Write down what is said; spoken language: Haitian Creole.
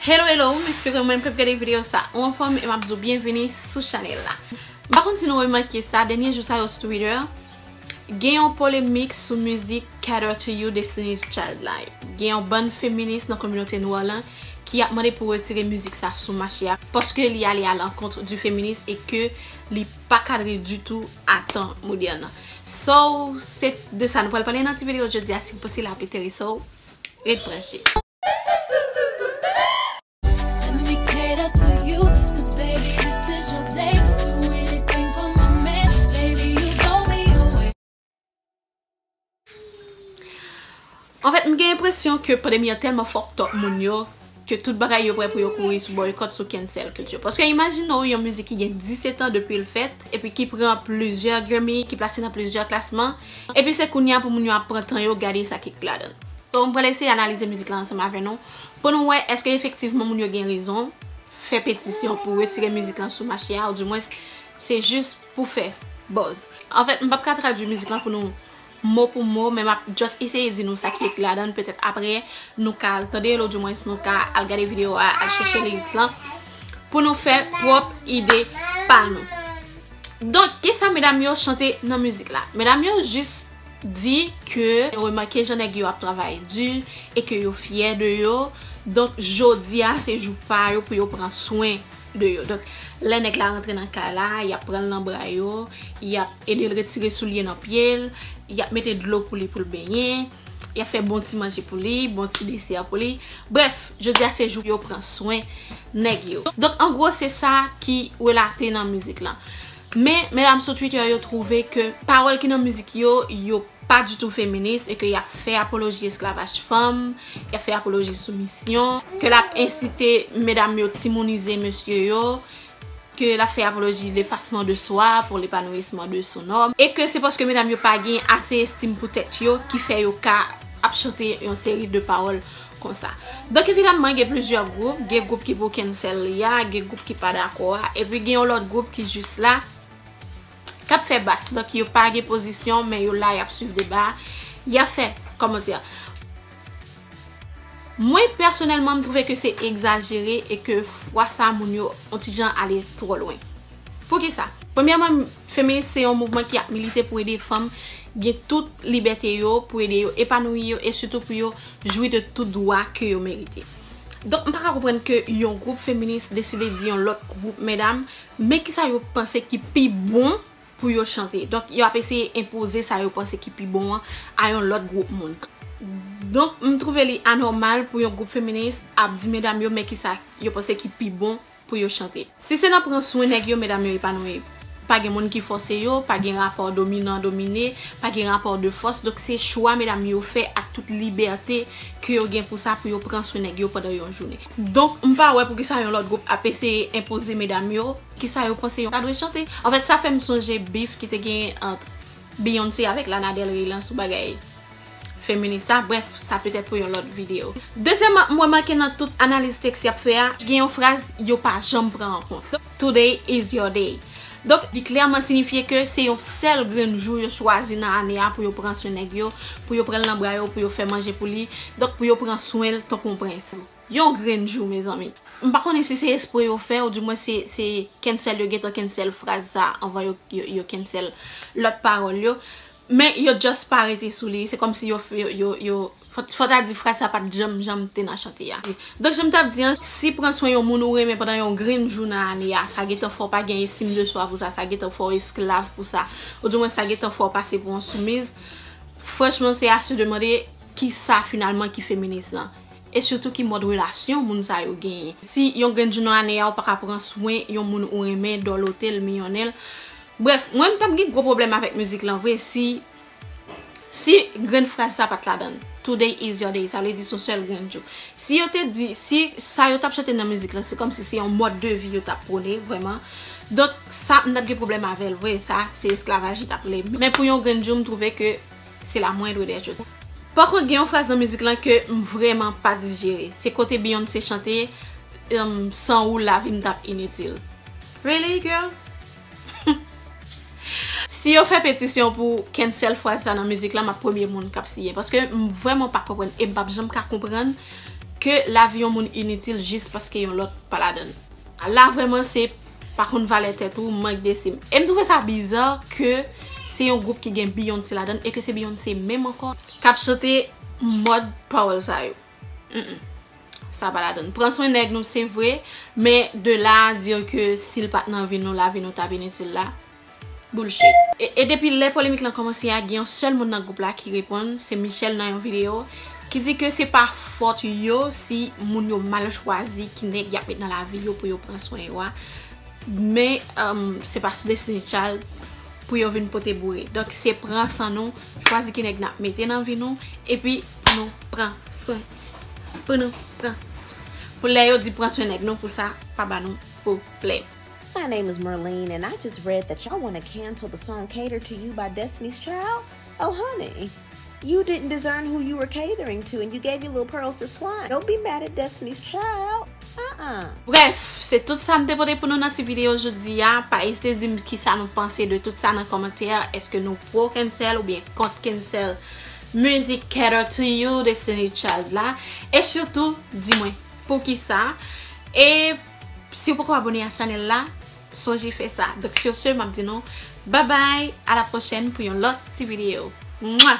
Hello hello, m espere ou menm kap gade video sa ou anfòm e map di w byenvini sou chanèl la. M pa konn si nou remake sa, dènye jou sa yo sou Twitter, gen yon polemik sou mizik Cater to You Destiny's Child la. Gen yon bann feminis nan kominote nwa lan ki ap mande pou retire mizik sa sou mache a paske li ale a lankontre di feminis e ke li pa kadre ditou a tan modèn nan. So, se de sa nou pral pale nan ti video jodi a, si w panse l ap enterese w, ret branche. Anfèt m gen enpresyon ke pandemi an tèlman fucked up moun yo ke tout bagay yo prè pou yo kouri sou boycott sou cancel culture. Paske imajine w yon mizik ki gen 17 ans depi l fèt epi ki pran plizyè Grammy, ki plase nan plizyè klasman. Epi se kounya pou moun yo ap pran tan yo gade sa ki k ladann. So m pral eseye analize mizik la ansanm avè nou pou nou wè eske efektivman moun yo gen rezon fè petisyon pou retire mizik lan sou mache a ou di mwens se jis pou fè buzz. Anfèt m pap ka tradwi mizik lan pou nou mo pou mo men map just eseye di nou sa ki k ladann petèt aprè nou ka al tande l ou di mwens nou ka al gade video a al chèche lyrics lan pou nou fè pwòp ide pa nou. Donk kisa medam yo chante nan mizik la? Medam yo jis di ke yo remake jan nèg yo ap travay di e ke yo fyè de yo donk jodi a se jou pa yo pou yo pran swen de yo donk lè nèg la rantre nan kay la y ap pran l nan bra yo y ap ede l retire soulye nan pye l y ap mete dlo pou li pou l benyen. Y ap fè bon ti manje pou li, bon ti desè pou li. Brèf, jodi a se jou yo pran swen nèg yo. Donk an gwo se sa ki relate nan mizik lan. Men, medam sou Twitter yo twouve ke pawòl ki nan mizik yo, yo pa ditou feminis e ke y ap fè apoloji esklavaj fanm, y ap fè apoloji soumisyon, ke l ap ensite medam yo timounize mesye yo. ke lap fè apoloji lefasman de swa pou lepanouisman de son nòm, e ke se paske medam yo pa gen ase estim pou tèt yo ki fè yo ka ap chante yon seri de pawòl konsa. Donk evidaman gen plizyè gwoup, gen gwoup ki pou cancel li a, gen gwoup ki pa dakò a, epi gen yon lòt gwoup ki jis la, kap fè bas donk yo pa gen pozisyon men yo la yap swiv deba yap fè koman di a mwen pèsonèlman m twouve ke se egzajere e ke fwa sa moun yo on ti jan ale twò lwen poukisa premyèman feminis se yon mouvman ki ap milite pou ede fanm gen tout libète yo pou ede yo epanouyi yo e sitou pou yo jwi de tout dwa ke yo merite donk m pa ka konprann ke yon gwoup feminis deside di yon lòt gwoup medam Men ki sa yo panse ki pi bon pou yo chante. Donk, yo ap eseye enpoze sa yo panse ki pi bon an a yon lòt gwoup moun. Donk, m twouve li anòmal pou yon gwoup feminis ap di medam yo men ki sa yo panse ki pi bon pou yo chante. Si se nan pran swen nèg yo, medam yo epanouyi. Pa gen moun ki fòse yo, pa gen rapò dominan domine, pa gen rapò de fòs. Donk, se chwa medam yo fè ak tout libète ke yo gen pou sa pou yo pran swen nèg yo pandan yon jounen. Donk m pa wè poukisa yon lòt gwoup ap eseye enpoze medam yo kisa yo panse yo ta dwe chante. Anfèt sa fè m sonje bif ki te genyen ant Beyoncé avèk Lana Del Rey lan sou bagay feminis sa. Brèf, sa petèt pou yon lòt videyo. Dezyèman, m remake nan tout analiz teks y ap fè a, gen yon fraz yo pa janm pran an kont. Today is your day. Donk, li klèman sinifye ke se yon sèl grenn jou yo chwazi nan ane a pou yo pran swen nèg yo, pou yo pran l nan bra yo, pou yo fè manje pou li, donk pou yo pran swen l tankou yon prens. Yon grenn jou, mezanmi. M pa konnen si se espre yo fè, ou di mwen se se cancel yo gentan cancel fraz sa a anvan yo cancel lòt pawòl yo. Men yo just pa rete sou li. Se kòmsi yo, yo, yo. Fò ta di fraz sa pa t janm janm te nan chante a. Donk jan m t ap di an, si pran swen yon moun ou renmen pandan yon grenn jou nan ane a, sa gen tan fè w pa gen estime de soi pou sa, sa gen tan fè w esklav pou sa, ou di mwen sa gen tan fè w pase pou yon soumiz, franchman se a se demande ki sa finalman ki feminis lan? E sitou ki mòd relasyon moun sa yo genyen? Si yon grenn jou nan ane a ou pa ka pran swen yon moun ou renmen, dòlote l, miyonnen l. Brèf, mwen m t ap gen gwo pwoblèm avèk mizik lan vre si Si grenn fraz sa pat ladan l. Today is your day. Sa vle di son sèl grenn jou. Si yo te di, si sa yo tap chante nan mizik lan se kòm si se yon mòd de vi yo tap pwone vrèman. Donk sa m tap gen pwoblèm avè l vre. Sa se esklavaj li tap rele. Men pou yon grenn jou m twouve ke se la mwendre dè chos. Pa kont gen yon fraz nan mizik lan ke m vrèman pa dijere. Se kote Beyoncé chante, San ou lavi m tap initil. Really girl? Si yo fè petisyon pou cancel fraz sa nan mizik la map premye moun kap siyen paske m vreman pa konprann e m pap janm ka konprann ke lavi yon moun initil jis paske yon lòt pa ladann la vreman se pa konn valè tèt ou mank destim e m twouve sa biza ke se yon gwoup ki gen Beyoncé ladann e ke se Beyoncé menm ankò kap chante mòd pawòl sa yo. Humm sa pa la donn. Pran swen nèg nou se vre men de la a dire ke si l pat nan vi nou lavi nou tap initil la bullshit. E depi lè polemik lan kòmanse a gen yon sèl moun nan gwoup la ki reponn se Michel nan yon video ki di ke se pa fòt yo si moun yo mal chwazi ki nèg yap met nan lavi yo pou yo pran swen yo a men se pa sou Destiny Child pou yo vin pote boure. Donk se pran san nou chwazi ki nèg nap mete nan vi nou epi Pou nou pran swen. Pou nou pran swen. Pou lè yo di pran swen nèg nou pou sa pa ba nou pwoblèm. My name is Merline and I just read that y'all wanna cancel the song Cater to You by Destiny's Child, oh honey You didn't discern who you were catering to and you gave your little pearls to swine, don't be mad at Destiny's Child ah ah. Brèf, se tout sa m te pote pou nou nan ti videyo jodi a, pa ezite di m kisa nou panse de tout sa nan kòmantè, èske nou pro cancel oubyen kont cancel Music cater to you Destiny Child la e sitou di mwen poukisa e si ou poko abone a chanel la sonje fè sa donk sur ce map di nou babay a la prochèn pou yon lòt ti video mwa.